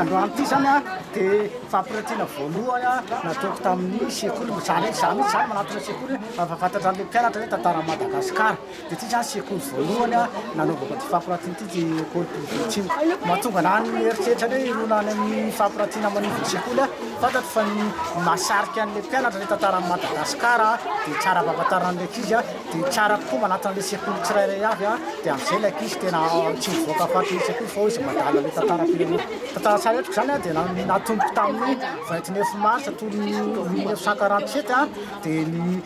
androany ity zany a dia fampiratiana voalohany a nataoko tamin'ny sekoly zany zany zany manatona sekoly fa fantatra an'le mpianatra hoe tantara madagasikara Dia ity izany sekoly voalohany nanaovako ity fampiratiana ity dia Ecole Privée Tsimo. Mahatonga ana ny eritreritra hoe hirona any amin'ny fampiratiana manivon'ny sekoly aho. Fantatro fa ny mahasarika an'ilay mpianatra ilay tantaran'i Madagasikara dia tsara ampahafantarina an'ilay ankizy dia tsara kokoa manatona an'ilay sekoly tsirairay avy dia amin'izay ilay ankizy tena tsy mivoaka fatin'ilay sekoly fa hoe izay mandala ilay tantaram-pirenena. Tantara tsara eto izany dia natomboko tamin'ny vingt neuf mars tolony mille neuf cent quarante sept dia ny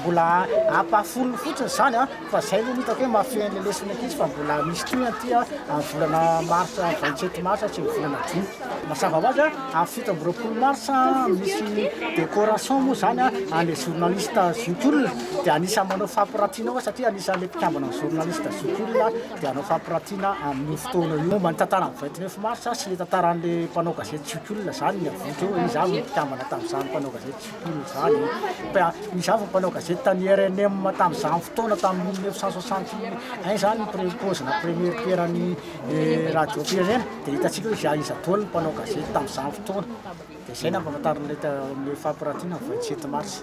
Mbola ampahafolony fotsiny izany an, fa izay aloha no hitako hoe mahafehy an'ilay lesona ankizy fa mbola misy koa aty an, amin'ny volana marsa, vingt sept mars sy ny volana jona. Mazava ho azy an, amin'ny fito amby roapolo mars misy decoration moa izany an, an'ilay journaliste zokiolona, dia anisan'ny manao fampiratiana koa satria anisan'ilay mpikambana amin'ny journaliste zokiolona dia hanao fampiratiana amin'io fotoana io. Momba ny tantaran'ny vingt neuf mars sy ny tantaran'ilay mpanao gazety zokiolona izany ny avotra eo hoe iza avy no mpikambana tamin'izany mpanao gazety zokiolona. Tamin'izany, izaho efa mpanao gazety tany rnm tamin'izany fotoana, tamin'ny mille neuf cent soixante et un izany ny pre- paozina première pierre an'ny eh, radiom-pirenena, dia hitantsika hoe izaho iza daholo ny mpanao gazety tamin'izany fotoana. Dia izay no ampahafantarin'ilay ta- amin'ilay fampirantiana ny 27 mars.